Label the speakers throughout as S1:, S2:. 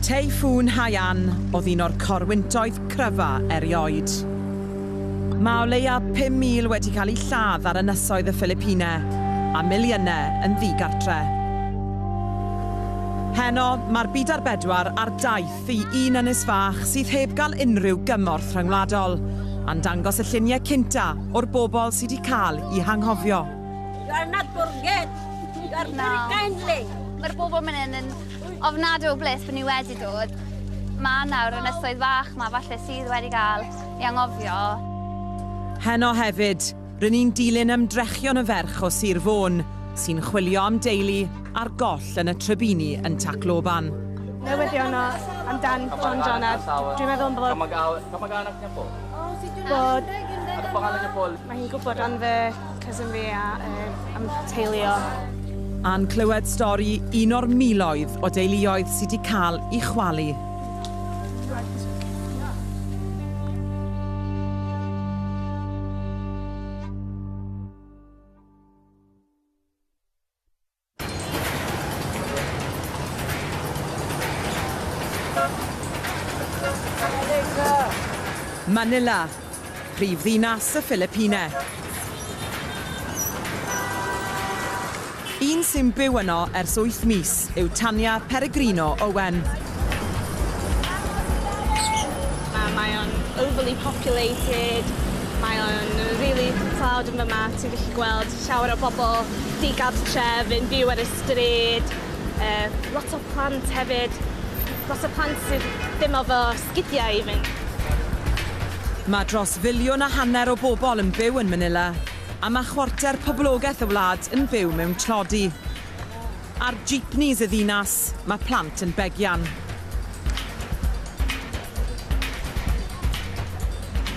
S1: Teiffŵn Haiyan oedd un o'r corwyntoedd cryfa erioed. Mae o leiaf 5,000 wedi cael eu lladd ar ynysoedd y Philipine, a miliynau yn ddi-gartre. Heno, mae'r byd ar bedwar ar daith i un ynys fach sydd heb gael unrhyw gymorth rhyngwladol, a'n dangos y lluniau cynta o'r bobl sydd wedi cael eu hanghofio.
S2: Digon na. Kindly. Mae'r bobl mynd yn
S3: yn ofnadw o bles bod ni wedi dod. Mae nawr yn ysoedd fach mae falle sydd wedi cael ei angofio.
S1: Heno hefyd, rydyn ni'n dilyn ymdrechion y ferch o Sir Fôn, sy'n chwilio am deulu ar goll yn y trybini yn Tacloban. Newyddion o
S4: amdan Fon Jonad. Dwi'n meddwl bod... Kamag-anak niya po. Bod... Ano pangalan niya po? Mae hi'n gwybod am fy Cousin fi a yr am teuluo. A'n
S1: clywed stori un o'r miloedd o deuluoedd sydd wedi cael i chwalu. Manila, prif ddinas y Philipine. Un sy'n byw yno ers wyth mis yw Tanya Peregrino Owen.
S4: Mae o'n overly populated, mae o'n rili tlawd yn fama, ti'n gallu gweld Llawer o bobl digartref yn byw ar y stryd, yy lot o plant hefyd, lot o plant sydd ddim efo sgidiau i fynd.
S1: Mae dros filiwn a hanner o bobl yn byw yn Manila, a mae chwarter poblogaeth y wlad yn byw mewn tlodi. Ar jeepneys y ddinas, mae plant yn begian.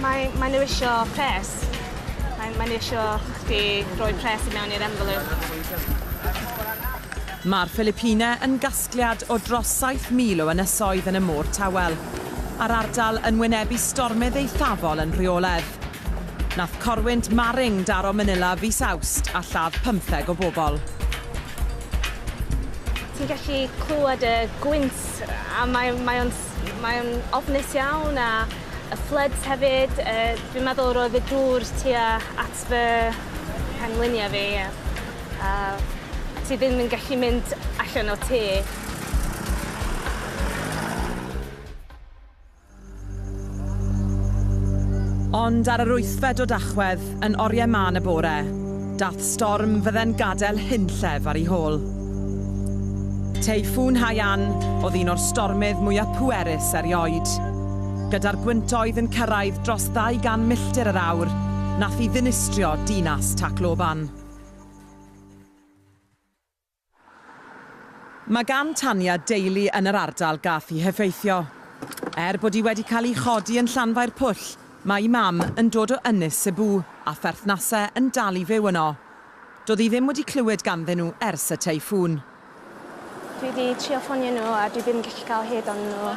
S4: Mae, mae nhw isio pres. Mae, mae nhw isio chdi roi pres i mewn i'r envelope.
S1: Mae'r Philipine yn gasgliad o dros 7,000 o ynysoedd yn y Môr Tawel, a'r ardal yn wynebu stormydd eithafol yn rheoledd. Nath corwynt Maring daro Manila fis Awst a lladd pymtheg o bobl.
S4: Ti'n gallu clywed y gwynt a mae mae o'n mae o'n ofnus iawn a y floods hefyd yy dwi'n meddwl roedd y dŵr tua at fy mhengliniau fi a a ti ddim yn gallu mynd allan o tŷ.
S1: Ond ar yr wythfed o Dachwedd, yn oriau mân y bore, daeth storm fydde'n gadael hunllef ar ei hôl. Teiffŵn Haiyan oedd un o'r stormydd mwyaf pwerus erioed. Gyda'r gwyntoedd yn cyrraedd dros 200 milltir yr awr, nath hi ddinistrio dinas Tacloban. Mae gan Tania deulu yn yr ardal gaf hi heffeithio. Er bod hi wedi cael ei chodi yn Llanfair Pwll, mae'i mam yn dod o Ynys Sebw a pherthnasau yn dal i fyw yno. Doedd hi ddim wedi clywed ganddyn nhw ers y teiffŵn.
S4: Dwi 'di trio ffonio nhw a dwi ddim yn gallu cael hyd onyn nhw.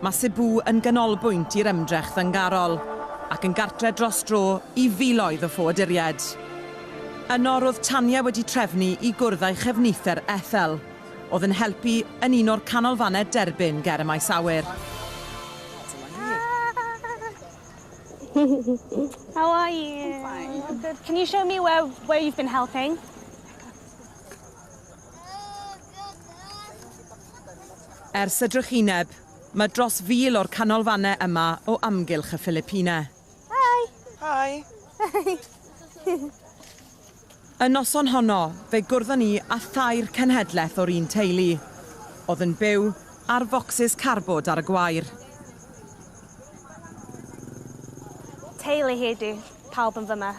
S1: Mae Cebu yn ganolbwynt i'r ymdrech ddyngarol, ac yn gartre dros dro i filoedd o ffoaduriaid. Yno roedd Tanya wedi trefnu i gwrdd â'i chefnither Ethel, oedd yn helpu yn un o'r canolfannau derbyn ger y maes awyr.
S4: How are you? Can you show me where, where you've been helping?
S1: Ers y drychineb, mae dros fil o'r canolfannau yma o amgylch y Philipine. Hi!
S4: Hi!
S1: Y noson honno, fe gwrddon ni â thair cenhedlaeth o'r un teulu, oedd yn byw ar focsys carbod ar y gwair.
S4: Teulu hi ydi pawb yn fy mah.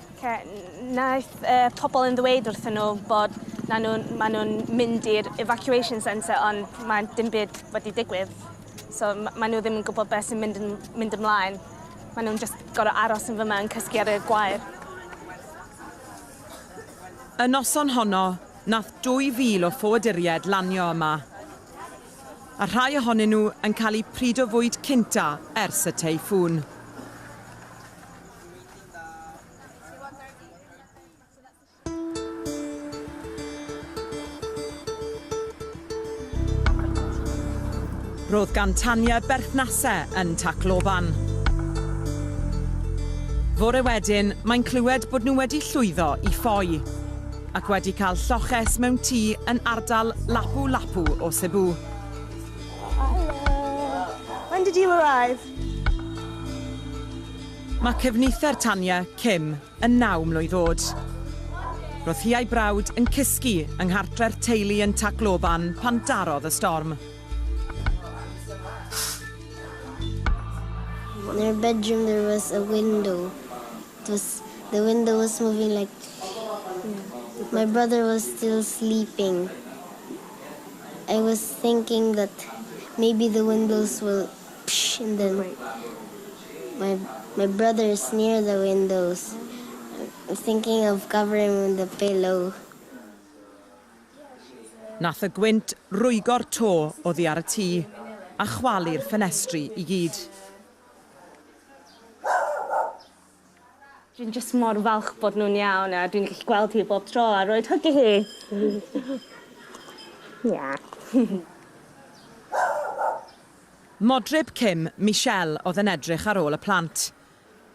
S2: Oce, wnaeth y
S4: pobl yn ddweud wrthyn nhw bod na nhw, maen nhw'n mynd i'r evacuation centre ond mae dim byd wedi digwydd. So maen nhw ddim yn gwybod beth sy'n mynd, yn, mynd ymlaen. Maen nhw'n just gorau aros yn fyma yn cysgu ar y gwair.
S1: Y noson honno, nath 2,000 o ffoaduriaid lanio yma, a rhai ohonyn nhw yn cael eu pryd o fwyd cynta ers y teiffŵn. Roedd gan Tanya berthnasau yn Tacloban. Fore wedyn, mae'n clywed bod nhw wedi llwyddo i ffoi ac wedi cael lloches mewn tŷ yn ardal Lapu Lapu o Cebu. Hello.
S4: When did you arrive?
S1: Mae cefnither Tanya, Kim, yn naw mlwydd oed. Roedd hi a'i brawd yn cysgu yng nghartre'r teulu yn Tacloban pan darodd y storm.
S5: In our bedroom there was a window. It was, the window was moving like, my brother was still sleeping. I was thinking that maybe the windows will Psh and then my my my brother is near the windows I'm thinking of covering with a pillow.
S1: Nath y gwynt rwygo'r to oddi ar y tŷ a chwalu'r ffenestri i gyd.
S4: Dwi'n jyst mor falch bod nhw'n iawn a dwi'n gallu gweld hi bob tro a roid hyg i hi. Ia.
S1: Modryb Kim, Michelle, oedd yn edrych ar ôl y plant.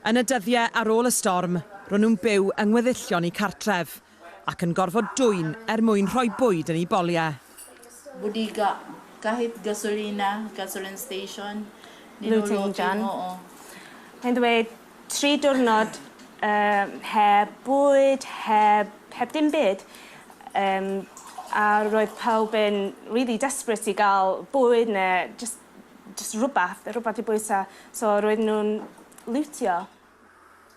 S1: Yn y dyddiau ar ôl y storm, ro'n nhw'n byw yng ngweddillion eu cartref, Ac yn gorfod dwyn er mwyn rhoi bwyd yn eu boliau. Bodeigau,
S6: Kahit gasolina, gasoline station, Looting
S4: done. Mae'n dweud, tri diwrnod heb bwyd, heb, heb dim byd. Yym, a roedd pawb yn really desperate i gael bwyd neu jyst, jyst rhywbeth, rhywbeth i bwyta. So roedden nhw'n lwtio.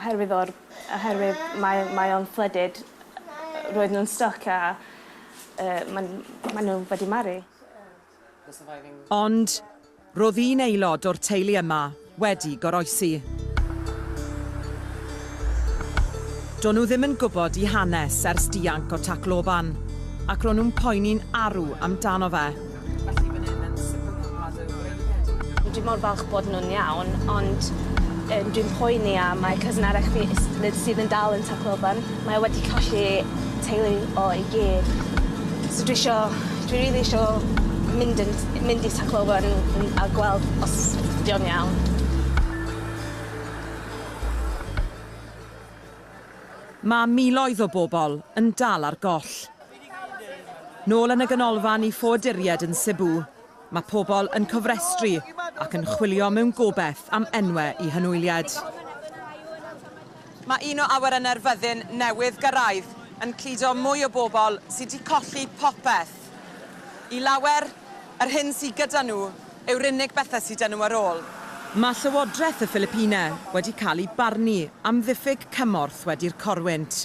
S4: Oherwydd o'r... Oherwydd mae mae o'n flooded roedd nw'n styc a yy ma'n ma' nw wedi maru. Ond
S1: ro'dd un aelod o'r teulu yma wedi goroesi. Do'n nhw ddim yn gwbod 'i hanes ers dianc o Tacloban ac ro'n nhw'n poeni'n arw amdano fe.
S4: Dwi mor falch bod nhw'n iawn, ond um, dwi'n poeni am mae cousin arall fi sydd yn dal yn Tŷ Cloban. Mae wedi colli teulu o i gyd. So dwi isio, dwi rili really isio mynd, yn, mynd i Tŷ Cloban a gweld os dio'n iawn.
S1: Mae miloedd o bobl yn dal ar goll. Nôl yn y ganolfan i ffoaduriaid yn Cebu, mae pobl yn cofrestru ac yn chwilio mewn gobeith am enwau i hynwyliad. Mae un o awyrennau'r fyddin newydd gyrraedd yn cludo mwy o bobl sydd wedi colli popeth. I lawer, yr hyn sydd gyda nhw yw'r unig bethau sydd 'da nhw ar ôl. Mae Llywodraeth y Philipine wedi cael ei barnu am ddiffyg cymorth wedi'r corwynt.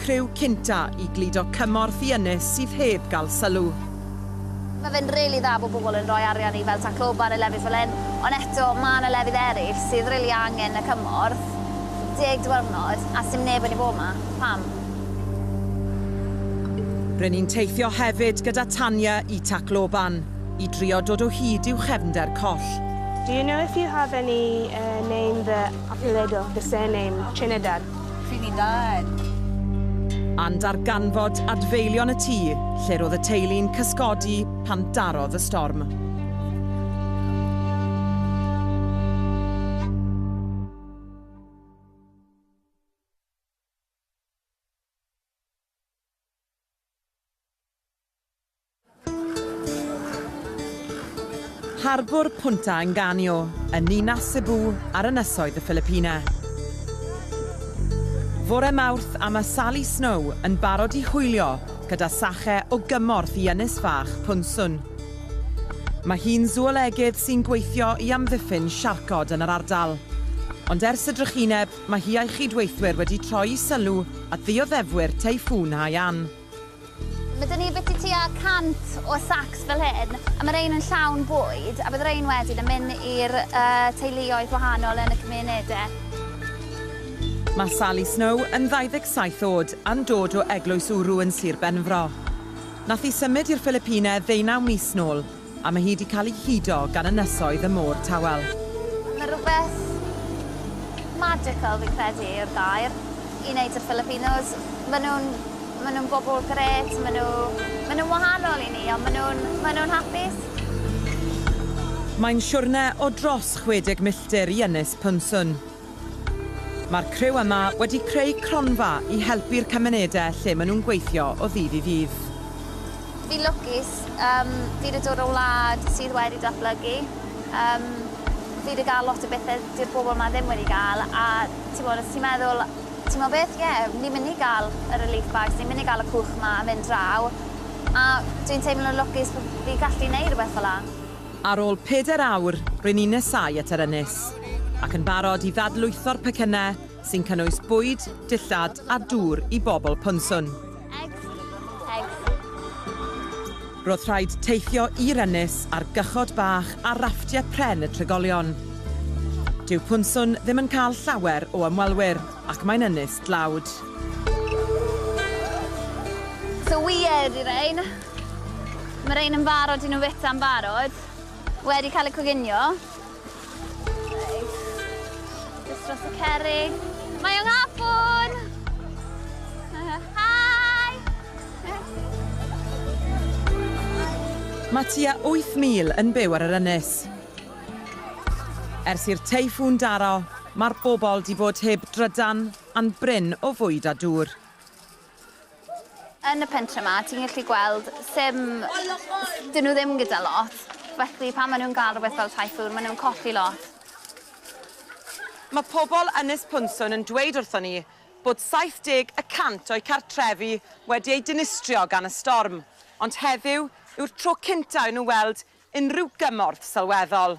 S1: criw cynta i gludo cymorth i ynys sydd heb gael sylw. Mae
S3: fe'n rili dda bod pobl yn rhoi arian i fel Tacloban a lefydd fel hyn, ond eto mae 'na lefydd eraill sydd rili angen y cymorth. Deg diwrnod a sdim neb wedi bod 'ma. Pam?
S1: Ry'n ni'n teithio hefyd gyda Tanya i Tacloban i drio dod o hyd i'w chefnder coll. Do you know if
S4: you have any name the Apelledo, the surname, Trinidad? Trinidad.
S1: A'n darganfod adfeilion y tŷ lle roedd y teulu'n cysgodi pan darodd y storm. Harbwr Punta Enganio, yn ninas Cebu ar ynysoedd y Ffilipina. Fore Mawrth a mae Sally Snow yn barod i hwylio gyda Sache o gymorth i ynys fach Punsun. Mae hi'n sŵolegydd sy'n gweithio i amddiffyn siarcod yn yr ardal. Ond ers y drychineb, mae hi a'i chyd-weithwyr wedi troi i sylw at ddioddefwyr Teiffŵn Haiyan. Mae
S3: 'da ni biti tua 100 o sacs fel hyn, a mae rhein yn llawn bwyd, a bydd rhein wedyn yn mynd i'r teuluoedd gwahanol yn y cymunedau. Mae Sally Snow
S1: yn 27 oed a'n dod o Eglwys Uru yn Sir Benfro. Nath hi symud i'r Philipine ddeunaw mis nôl. A mae hi 'di cael ei hudo gan ynysoedd y Môr Tawel. Mae rhywbeth
S3: magical fi'n credu yw'r gair i wneud y Filipinos. Maen nhw'n, maen nhw'n bobl grêt, maen nhw, maen nhw'n wahanol i ni ond maen nhw'n, maen nhw'n hapus.
S1: Mae'n siwrne o dros 60 milltir i Ynys Pynsun. Mae'r criw yma wedi creu cronfa i helpu'r cymunedau lle maen nhw'n gweithio o ddydd i ddydd. Fi'n
S3: lwcus, yym, fi 'di dod o wlad sydd wedi datblygu, yym, fi 'di gael lot o bethe dyw'r bobl 'ma ddim wedi gael, a t'mod os ti'n meddwl, timod beth, ie, ni'n mynd i gael y relief bags, ni'n mynd i gael y cwch 'ma a mynd draw, a dwi'n teimlo'n lwcus bo' fi'n gallu neud rwbeth fel 'a. Ar ôl pedair
S1: awr, ry'n ni'n nesáu at yr ynys, ac yn barod i ddadlwytho'r pecynnau sy'n cynnwys bwyd, dillad a dŵr i bobl Ponswn. Roedd rhaid teithio i'r ynys ar gychod bach a rafftiau pren y trigolion. Dyw Ponswn ddim yn cael llawer o ymwelwyr, ac mae'n ynys dlawd.
S3: So weird, you know? Mae rhain yn barod i nhw feta'n barod. Wedi cael y coginio. Just dros y cerig. Mae o'n hafwn! Hi!
S1: Mae tua 8,000 yn byw ar yr ynys. Ers i'r teiffŵn daro, mae'r bobl di bod heb drydan a'n bryn o fwyd a dŵr.
S3: Yn y pentre ma ti'n gallu gweld sim... dyn nhw ddim gyda lot, felly pan maen nhw'n gael rhywbeth fel typhoon maen nhw'n colli lot.
S1: Mae pobl Ynys Pwnswyn yn dweud wrthon ni bod 70 y cant o'u cartrefi wedi eu dinistrio gan y storm, ond heddiw yw'r tro cyntaf i nhw weld unrhyw gymorth sylweddol.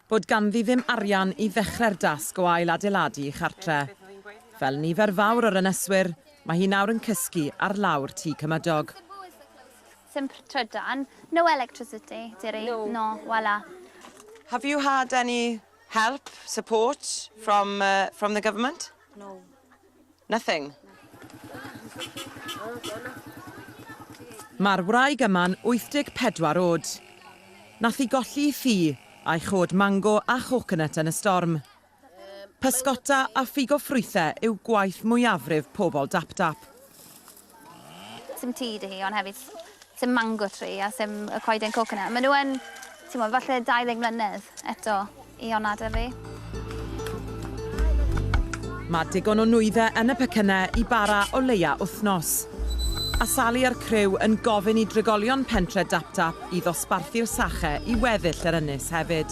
S1: bod ganddi ddim arian i ddechrau'r dasg o ail-adeiladu ei chartre'. Fel nifer fawr o'r yneswyr, mae hi nawr yn cysgu ar lawr tŷ cymydog.
S3: Simpr trydan. No electricity, Diri. No. No, wala. Have you
S1: had any help, support, from, uh, from the government? No.
S2: Nothing.
S1: Mae'r wraig yma'n 84 oed. Nath hi golli i ffi a'i chod mango a choconut yn y storm. Pysgota a ffigo ffrwythe yw gwaith mwyafrif pobl Dapdap. Sim
S3: tŷ dy hi, ond hefyd sim mango tree a sim y coeden coconut. Maen nhw yn, ti'n mwyn, falle 20 mlynedd eto i honna dy fi.
S1: Mae digon o nwyddau yn y pecynnau i bara o leia wythnos. A Sali a'r criw yn gofyn i drigolion pentre Daptap i ddosbarthu'r sache i weddill yr ynys hefyd.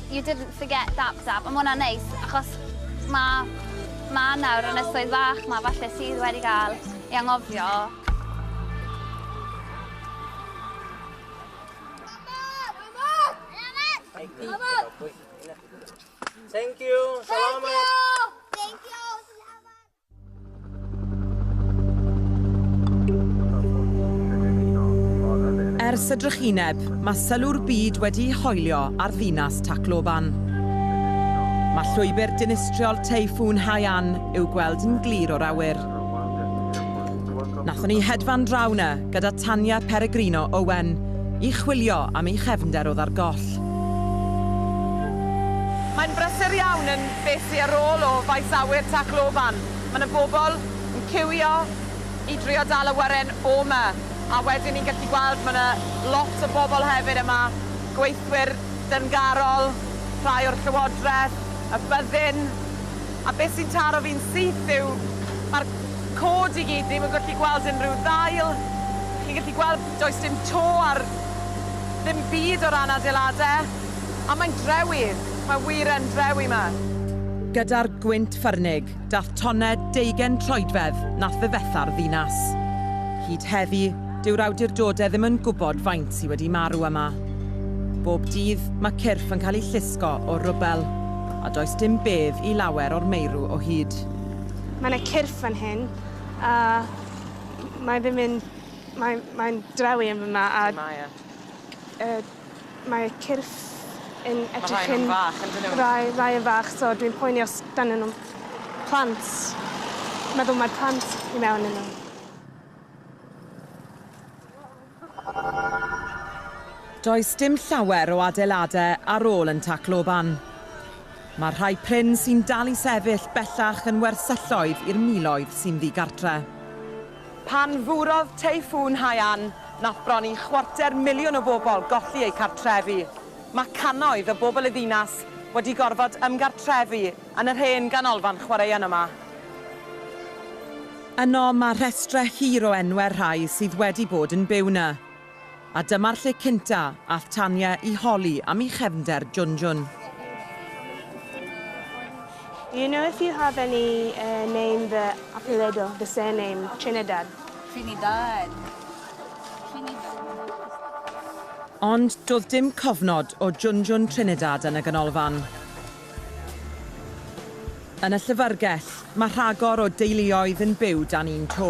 S3: You didn't forget Dab Dab, a ma' hwnna'n neis achos ma' Mam nawr yn y swydd fach 'ma falle sydd wedi cael ei anghofio. Thank you!
S7: Salamat! Thank you! Salamat!
S1: Ers y drychineb, mae sylw'r byd wedi'i hoelio ar ddinas Tacloban. Mae llwybr dinistriol Teiffŵn Haiyan i'w gweld yn glir o'r awyr. Nathon ni hedfan draw na gyda Tanya Peregrino Owen i chwilio am ei chefnder oedd ar goll. Mae'n brysur iawn yn Beth sy ar ôl o faes awyr Tacloban? Mae 'na bobl yn ciwio i drio dal awyren o 'ma, a wedyn ni'n gallu gweld ma' 'na lot o bobl hefyd yma, gweithwyr dyngarol, rhai o'r Llywodraeth, y byddin, a beth sy'n taro fi'n syth yw ma'r cod i gyd ddim yn gallu gweld unrhyw ddail, chi'n gallu gweld does dim to ar ddim byd o ran adeilade. A mae'n drewi! Mae wir yn drewi 'ma! Gyda'r gwynt ffyrnig, dath tonned deugen troedfedd nath ddifetha'r ddinas. Hyd heddi, dyw'r awdurdodau ddim yn gwybod faint sy wedi marw yma. Bob dydd, mae cyrff yn cael eu llusgo o'r rwbel, a does dim bedd i lawer o'r meirw o hyd. Mae 'na
S4: cyrff fan hyn, a mae ddim yn... mae... mae'n drewi yn fama, a... Lle mae e? Mae cyrff yn edrych yn... Mae rhai fach ynddyn nhw? Rhai, rhai yn fach, so dwi'n poeni os ganddyn nhw plant. Meddwl mai'r plant i mewn yn nhw.
S1: Does dim llawer o adeiladau ar ôl yn Tacloban. Mae rhai prin sy'n dal i sefyll bellach yn wersylloedd i'r miloedd sy'n ddigartre. Pan furodd Teiffŵn Haiyan, nath bron i chwarter miliwn o bobl golli eu cartrefi. Mae cannoedd o bobl y ddinas wedi gorfod ymgartrefu yn yr hen ganolfan chwaraeon yma. Yno, mae rhestrau hir o enwau'r rhai sydd wedi bod yn byw 'na. A dyma'r lle cynta all Tanya i holi am i chefnder Junjun.
S4: You know if you have any uh, name the apellido, the surname, Trinidad.
S2: Trinidad.
S1: Ond doedd dim cofnod o Junjun Trinidad yn y ganolfan. Yn y llyfrgell, mae rhagor o deuluoedd yn byw dan un to.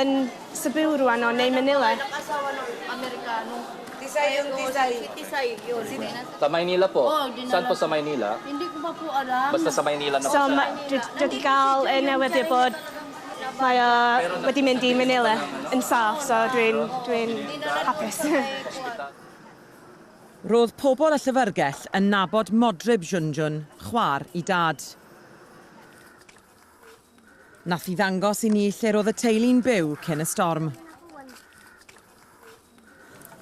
S4: yn Subaru a no neu Manila.
S2: Sa Maynila po.
S7: Saan po sa Maynila?
S2: Basta sa Maynila na po siya.
S7: So, dwi wedi
S4: cael
S7: y
S4: newyddion bod mae o wedi mynd i Manila yn saff, so dwi'n dwi'n hapus.
S1: Roedd pobl y llyfrgell yn nabod Modryb Junjun, chwaer i Dad. Nath hi ddangos i ni lle ro'dd y teulu'n byw cyn y storm.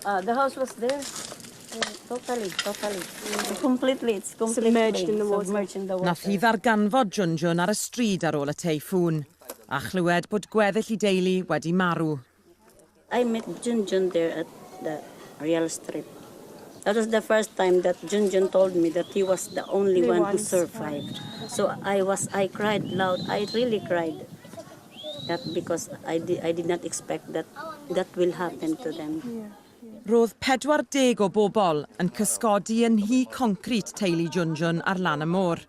S2: Uh, the house was there. Uh, totally, totally. Completely, it's completely submerged in the water. Submerged
S4: in the water. Nath hi
S2: ddarganfod
S1: Junjun ar y stryd ar ôl y teifŵn, a chlywed bod gweddill i deulu wedi marw.
S2: I met Junjun there at the real strip. That
S8: was the first time that Junjun told me that he was the only one who survived. So I was, I cried loud. I really cried. That because I, di, I did not expect that that will happen to them. Roedd
S1: 40 o bobl yn cysgodi yn nhŷ concrit teulu Junjun ar lan y môr.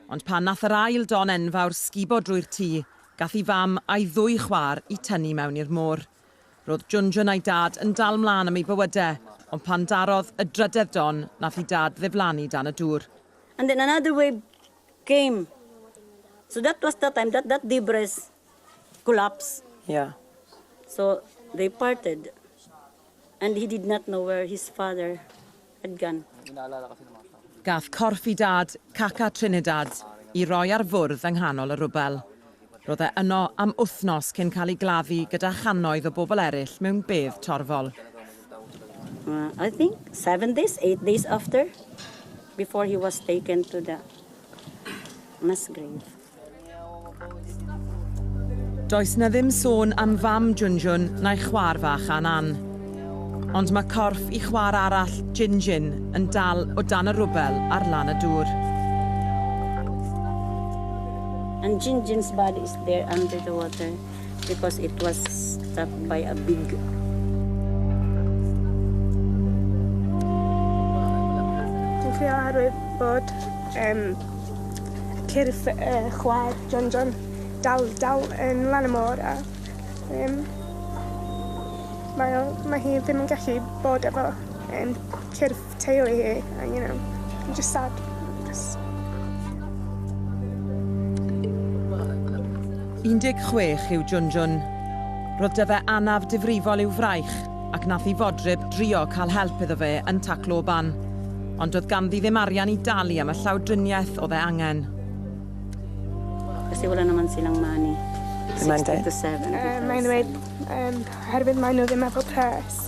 S1: Ond pan nath yr ail don enfawr sgubo drwy'r tŷ, Gath ei fam a'i ddwy chwaer i tynnu mewn i'r môr. Ro'dd Junjun a'i dad yn dal mlan am ei bywyde, ond pan darodd y drydedd don, nath i dad ddiflannu dan y dŵr. And then another
S8: wave came, so that was the time that that debris collapsed. Yeah.
S9: So
S8: they parted. And he did not know where his father had gone.
S1: Gath corff i dad, Caca Trinidad, i roi ar fwrdd yng nghanol y rwbel. Ro'dd e yno am wthnos cyn cael ei gladdu gyda channoedd o bobl eryll mewn bedd torfol.
S8: I think seven days, eight days after, before he was taken to the mass grave.
S1: Does 'na ddim sôn am fam Junjun na'i chwaer fach Anan. Ond mae corff i chwaer arall, Jinjin, yn dal o dan y rwbel ar lan y dŵr. And
S8: Jinjin's body is there under the water. because it was stuck by a big
S4: Dwi'n trio arwydd bod um, cyrff uh, chwaer John John dal, dal yn lan y môr a um, mae, mae hi ddim yn gallu bod efo um, cyrff teulu hi, a
S1: you know, I'm just sad. Just... 16 yw Junjun. Roedd dy fe anaf difrifol i'w fraich, ac nath i fodryb drio cael help iddo fe yn Tacloban. Ond doedd ganddi ddim arian i dalu am y llawdriniaeth oedd e angen. Kasi
S8: wala naman silang money. Mae'n dweud? Mae'n dweud,
S4: herwydd maen nhw ddim efo pres.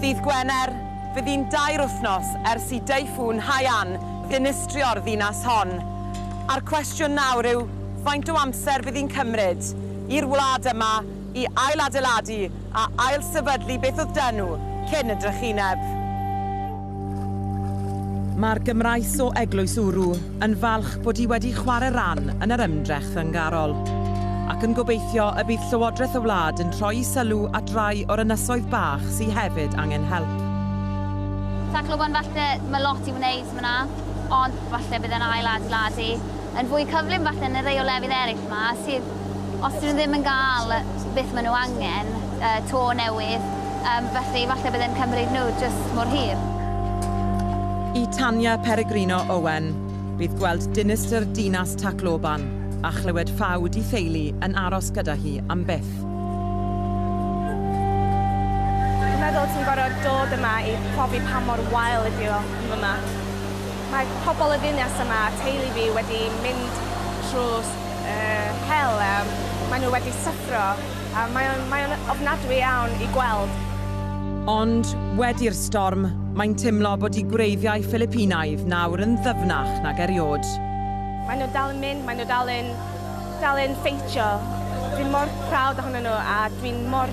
S1: Ddydd Gwener, fe fu'n dair wythnos ers i Deiffŵn Haiyan ddinistrio'r ddinas hon, a'r cwestiwn nawr yw faint o amser fydd hi'n cymryd i'r wlad yma i ailadeiladu a ailsefydlu beth oedd 'da nhw cyn y drychineb. Mae'r Gymraes o Eglwys Uru yn falch bod hi wedi chwarae rhan yn yr ymdrech ddyngarol, ac yn gobeithio y bydd Llywodraeth y wlad yn troi'i sylw at rai o'r ynysoedd bach sy hefyd angen help.
S3: Tacloban falle mae lot i'w wneud ma 'na, ond falle bydd e'n ail adeiladu yn fwy cyflym falle na rei o lefydd eraill 'ma sydd Os dyn nhw ddim yn gael beth maen nhw angen, y to newydd, yym, felly falle bydd e'n cymryd nhw jyst mor hir.
S1: I Tanya Peregrino Owen, bydd gweld dinistr dinas Tacloban a chlywed ffaw di theulu yn aros gyda hi am byth.
S4: Dwi'n meddwl ti'n gorfod dod yma i profi pa mor wael ydi o yn fyma. Mae pobl y ddinas yma, teulu fi, wedi mynd trwy yy hel a mae nhw wedi syffro a mae o'n mae o'n ofnadwy iawn i gweld. Ond
S1: wedi'r storm, mae'n teimlo bod i gwreiddiau Philipinaidd nawr yn ddyfnach nag eriod. Mae nhw dal
S4: yn mynd, mae nhw dal yn dal yn ffeitio. Dwi mor proud ohonyn nhw a dwi'n mor